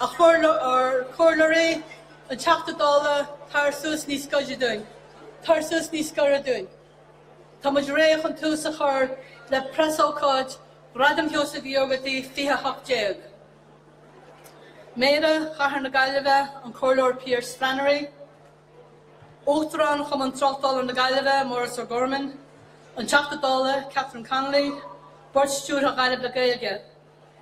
a chomhairleoirí a Theachta Dála Tar suas níos gaire dúinn! Tar suas níos gaire dúinn! Tá muid réidh chun tús a chur le preasócáid Ghradam Sheosaimh Uí Ógartaigh 2018! Méara Chathair na Gaillimhe, an Comhairleoir Pearse Flannery, Uachtarán Chumann Tráchtála na Gaillimhe, Maurice O'Gorman, an Teachta Dála Catherine Connolly, Bord Stiúrtha Ghaillimh le Gaeilge.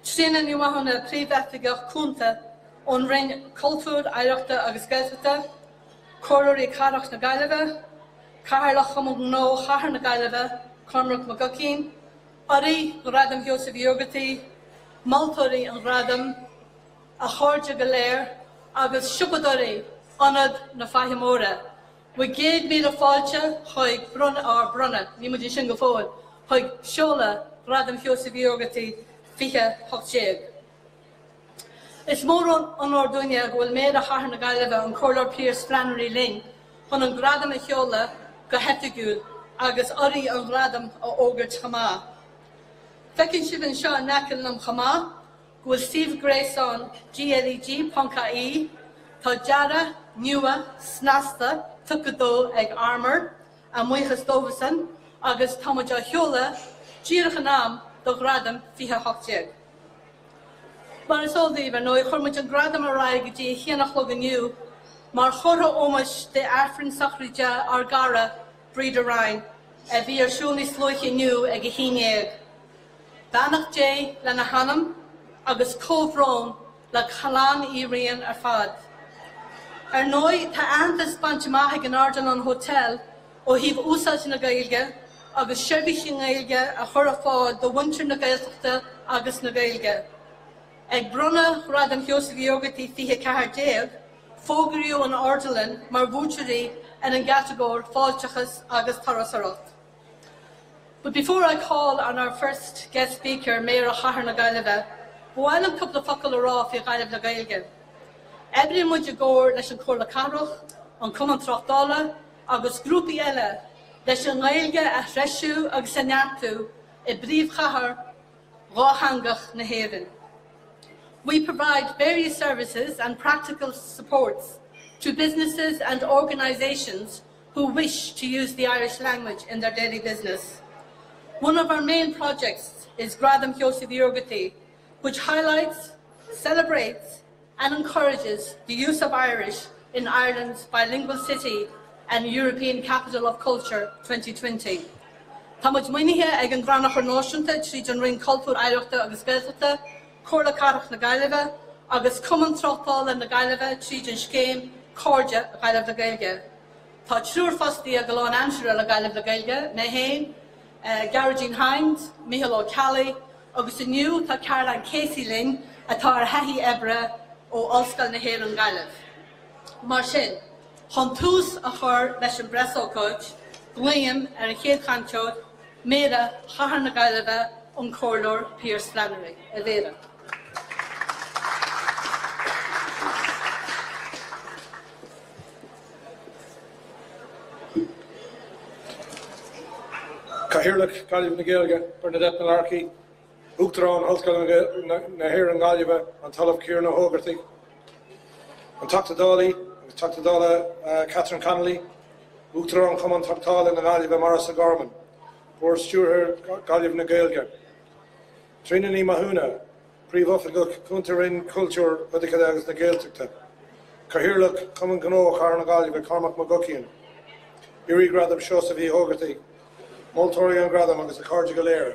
Sinéad Ní Mhathúna Príomhoifigeach Cúnta ón Roinn Cultúir, Oidhreachta agus Gaeltachta, Comhairleoirí Cathrach na Gaillimhe, Cathaoirleach Chumann Gnó Chathair na Gaillimhe Cormac Mac Guckian, urraithe Ghradam Sheosaimh Uí Ógartaigh, moltóirí an Ghradaim, a chairde go léir agus siopadóirí Ionad na Faiche Móire. Bhur gcéad míle fáilte chuig bronnadh, ár mbronnadh, níl muid ansin go fóill, chuig seoladh Ghradam Sheosaimh Uí Ógartaigh 2018. Is mór an onóir dúinn é go bhfuil Méara Chathair na Gaillimhe, an Comhairleoir Pearse Flannery linn chun an Gradam a sheoladh go hoifigiúil agus urraithe an Ghradaim a fhógairt chomh maith. Feiceann sibh anseo in aice liom chomh maith, go bhfuil suíomh gréasáin GLEG ponc IE, tá dearadh nua snasta tugtha dó ag Armour, ár mbuíochas dóibhsean, agus tá muid á sheoladh díreach in am do Ghradam 2018. Mar is eol daoibh, ar ndóigh, chuir muid an Gradam ar aghaidh go dtí a haon a chlog inniu mar chomhartha ómóis d'Aifreann sochraide ár gcara Breda Ryan, a bhí ar siúl níos luaithe inniu ag a haon dhéag. Beannacht Dé lena hanam agus comhbhrón le clann Uí Riain ar fad. Ar ndóigh tá aitheantas bainte amach ag an Ardilaun Hotel ó thaobh úsáidte na Gaeilge agus seirbhís i nGaeilge a chur ar fáil do mhuintir na Gaeltachta agus na Gaeilge. Ag bronnadh Ghradam Sheosaimh Uí Ógartaigh 2014, fógraíodh an Ardilaun mar bhuaiteoirí ar an gcatagóir Fáilteachas agus Turasóireacht. But before I call on our first guest speaker, Méara Chathair na Gaillimhe, ba mhaith liom cúpla focal a rá faoi Ghaillimh le Gaeilge. Oibríonn muid i gcomhar leis an Comhairle Cathrach, an Cumann Tráchtála agus grúpaí eile leis an nGaeilge a threisiú agus a neartú i bpríomhchathair dhátheangach na hÉireann. We provide various services and practical supports to businesses and organisations who wish to use the Irish language in their daily business. One of our main projects is Gradam Sheosaimh Uí Ógartaigh, which highlights, celebrates and encourages the use of Irish in Ireland's Bilingual City and European Capital of Culture 2020. Tá muid maoinithe ag an gCrannchur Náisiúnta tríd an Roinn Cultúir, Oidhreachta agus Gaeltachta, Comhairle Cathrach na Gaillimhe agus Cumann Tráchtála na Gaillimhe tríd an scéim 'Cairde Ghaillimh le Gaeilge'. Tá triúr fostaithe go lánaimseartha le Gaillimh le Gaeilge, mé féin, Gearóidín Hynes, Micheál Ó Ceallaigh agus inniu tá Caroline Casey linn atá ar thaithí oibre ó Ollscoil na hÉireann Gaillimh. Mar sin, chun tús a chur leis an bpreasócáid, glaoim ar an chéad chainteoir, Méara Chathair na Gaillimhe, an Comhairleoir Pearce Flannery, a Mhéara. Cathaoirleach Gaillimh na Gaeilge, Bernadette Mullarkey, Uachtarán Ollscoil na hÉireann Gaillimhe, an tOllamh Ciarán Ó hÓgartaigh, an Teachta Dálaí agus Teachta Dála Catherine Connolly, Uachtarán Chumann Tráchtála na Gaillimhe Maurice O'Gorman, Bord Stiúrtha Ghaillimh na Gaeilge, Tríona Ní Mathúna, Príomhoifigeach Cúnta Roinn Cultúir, Oidhreachta agus na Gaeltachta, Cathaoirleach Chumann Gnó Chathair na Gaillimhe Cormac McGuckian, Urraí Ghradam Seosaimh Uí hÓgartaigh, Moltóirí an Ghradaim agus a chairde go léir.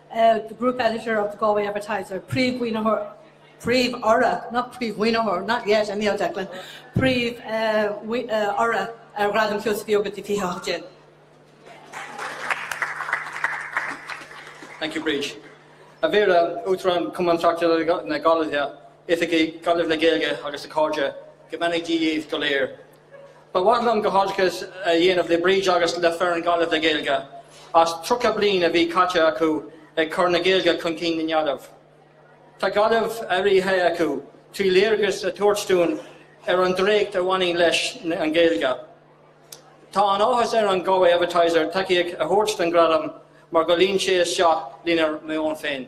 the group editor of the Galway Advertiser, príomh-mhaoinitheoir, príomh-urra, not príomh-mhaoinitheoir, not yet, I mean, Declan, príomh-urra ar Ghradam Sheosaimh Uí Ógartaigh 2018. Thank you, Bríd. A Mhéara, Uachtarán Cumann Tráchtála na Gaillimhe, Oifigigh, Gaillimh le Gaeilge agus a chairde, go mbeannaí Dia dhaoibh go léir. Ba mhaith liom comhghairdeas a dhéanamh le Bríd agus le foireann Ghaillimh le Gaeilge as 30 bliain a bhí caite acu ag cur na Gaeilge chun cinn i nGaillimh. Tá Gaillimh athraithe acu trí léargas a thabhairt dúinn ar an draíocht a bhaineann leis an Ghaeilge. Tá an-áthas ar an Galway Advertiser tacaíocht a thabhairt don Ghradam mar go luíonn sé isteach lenár meon féin.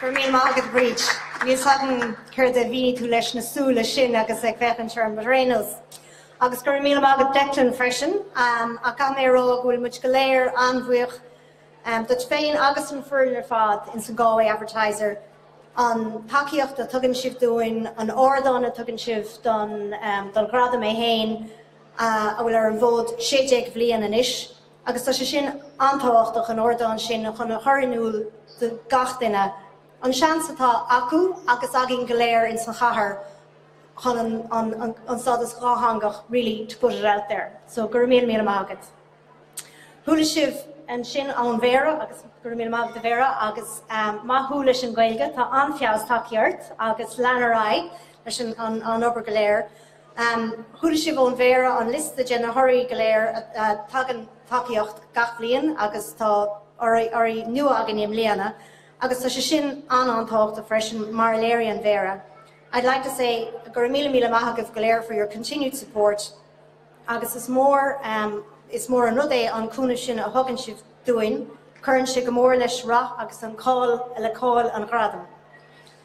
Go raibh míle maith agat, Bríd. Níl 's agam céard a mhínigh tú leis na súile sin agus ag féachaint ar an mBreathnach. Agus go raibh míle maith agat Declan freisin, um, ach caithfidh mé a rá go bhfuil muid go léir an-bhuíoch um, duit féin agus don fhoireann ar fad ins an Galway Advertiser an tacaíocht a tugann sibh dúinn, an ardán a tugann sibh don, um, don ghradam é héin uh, a bhfuil ar an bhfód 16 bhliain anois. Agus tá sé sin an-tábhachtach, an ardán sin chun a chur in iúl do gach duine an seans atá acu agus againn go léir ins an chathair chun an stádas dhátheangach really to put it out there. So go raibh míle míle maith agat. Chuala sibh ansin ón Mhéara agus go raibh míle maith agat a Mhéara agus maith thú leis an Ghaeilge, tá an-feabhas tagtha ort agus lean ar aghaidh leis an obair go léir. Chuala sibh ón Mhéara an liosta de na hurraí go léir a thugann tacaíocht gach bliain agus tá urraí nua againne i mbliana agus tá sé sin an-an tábhachtach freisin mar a léirigh an Mhéara. I'd like to say go raibh míle míle maith agaibh go léir for your continued support agus is mór is mór an rud é an cúnamh sin a thugann sibh dúinn, cuireann sé go mór leis rath agus an cáil le cáil an Ghradaim.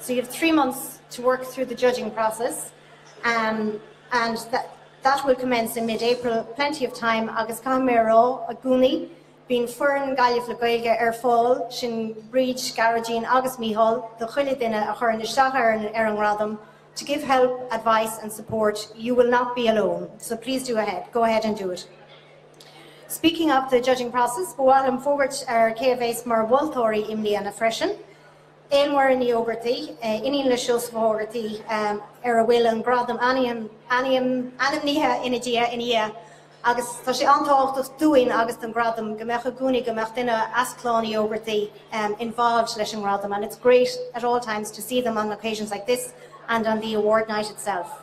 So you have three months to work through the judging process and that will commence in mid-April, plenty of time agus caithfidh mé a rá, i gcónaí, bíonn foireann Gaillimh le Gaeilge ar fáil, sin Bríd, Gearóidín agus Mícheál, do chuile duine a chuireann isteach ar an ar an ngradam, to give help, advice and support, you will not be alone, so please do ahead, go ahead and do it. Speaking of the judging process, ba mhaith liom fógairt ar cé a bheas mar mholtóirí i mbliana freisin. Ann Marie Ní Ógartaigh, iníon le Seosamh Ó hÓgartaigh, ar a bhfuil an gradam ainmnithe ina diaidh ina dhiaidh agus tá sé an-tábhachtach dúinn agus don ghradam go mbeadh i gcónaí go mbeadh duine as clann Uí Ógartaigh involved leis an ngradam and it's great at all times to see them on occasions like this and on the award night itself.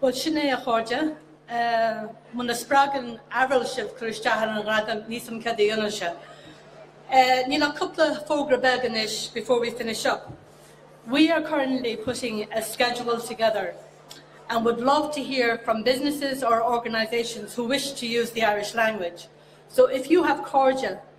Bhuel, sin é, a chairde. Muna spreagann abair sibh cur isteach ar an ghradam, ní sam cad a dhéanann sé. Níl ach cúpla fógra beag anois before we finish up. We are currently putting a schedule together and would love to hear from businesses or organisations who wish to use the Irish language. So if you have cairde,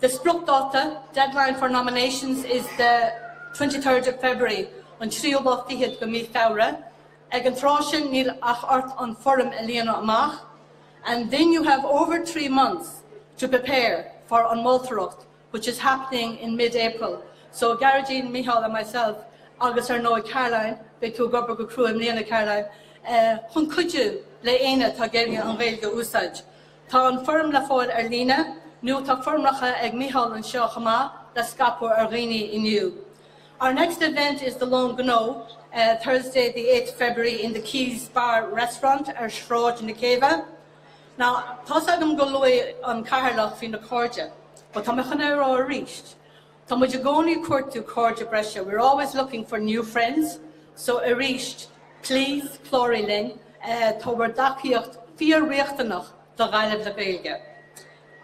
The spriocdáta, deadline for nominations, is the twenty third of February, an tríú lá fichead de mhí Feabhra. Ag an tráth sin níl ach ort an foirm a líonadh amach and then you have over three months to prepare for an mholtóireacht which is happening in mid April. So Gearóidín, Mícheál and myself agus ar ndóigh Caroline, beidh tú ag obair go crua i mbliana Caroline, chun cuidiú le éinne atá ag iarraidh an Ghaeilge a úsáid. Tá an foirm le fáil ar líne, nó tá foirmeacha ag Mícheál anseo chomh maith le scaipeadh ar dhaoine inniu. Our next event is the Lón Gnó, Thursday the 8th February in the Quays Bar Restaurant ar Shráid na Céibhe. Now, tá's agam gur luaigh an Cathaoirleach faoi na cairde, but tá mé chun é a rá arís, Tá muid i gcónaí ag cuartú cairde breise, we're always looking for new friends, so arís, please cláraigh linn, tá bhur dtacaíocht fíor-riachtanach do Ghaillimh le Gaeilge.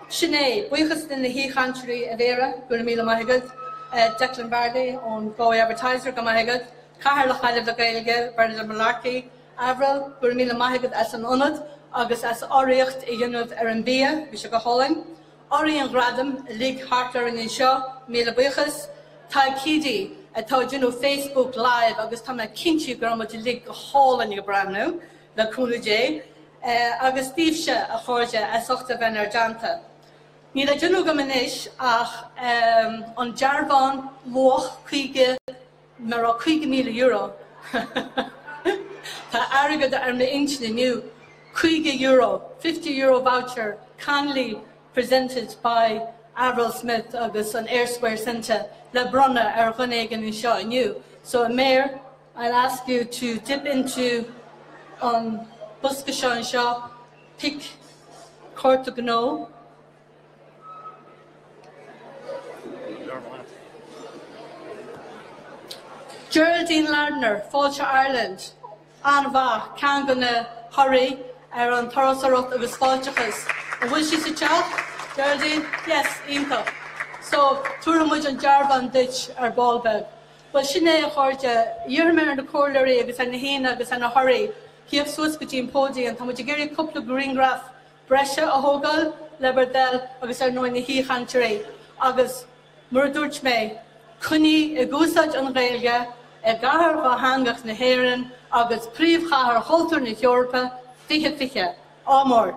Sin é, buíochas le na haoichainteoirí, a Mhéara, go raibh míle maith agat, Declan Varley ón Galway Advertiser, go raibh maith agat, Cathaoirleach Ghaillimh le Gaeilge, Bernadette Mullarkey, Avril, go raibh míle maith agat as an ionad agus as urraíocht a dhéanamh ar an bhia, bhí sé go hálainn, Urraithe an Ghradaim uilig thart orainn anseo, míle buíochas, Tadhg Keady, atá ag déanamh Facebook Live agus tá mé cinnte go raibh muid uilig go hálainn ag breathnú, le cúnamh Dé. Agus daoibhse, a chairde, as ucht a bheith inár dteannta. Níl le déanamh agam anois ach an dearbhán luach £50, Murab €50,000? Tá airgead ar m'intinn inniu. €50, fifty-euro voucher, kindly presented by Avril Smith agus an Eyre Square Centre le bronnadh ar dhuine éigin anseo inniu. So Mayor, I'll ask you to dip into an bosca seo anseo, pick cárta gnó, Geraldine Lardner, Fáilte Ireland, an-mhaith, ceann de na hurraí ar an turasóireacht agus fáilteachas. An bhfuil sí sa teach? Geraldine, Yes, iontach. So, tabharfaidh muid an dearbhán duit ar ball beag. Bhuel, sin é, a chairde, iarrfaidh mé ar na comhairleoirí agus ar na haíonna agus ar na hurraí tíocht suas go dtí an póidiam. Tá muid ag iarraidh cúpla grianghraif breise a thógáil le Bartley agus ar ndóigh na haoichainteoirí agus mar a dúirt mé, coinnígí ag úsáid an Ghaeilge i gcathair dhátheangach na hÉireann agus príomhchathair chultúir na hEorpa 2020. Ádh mór!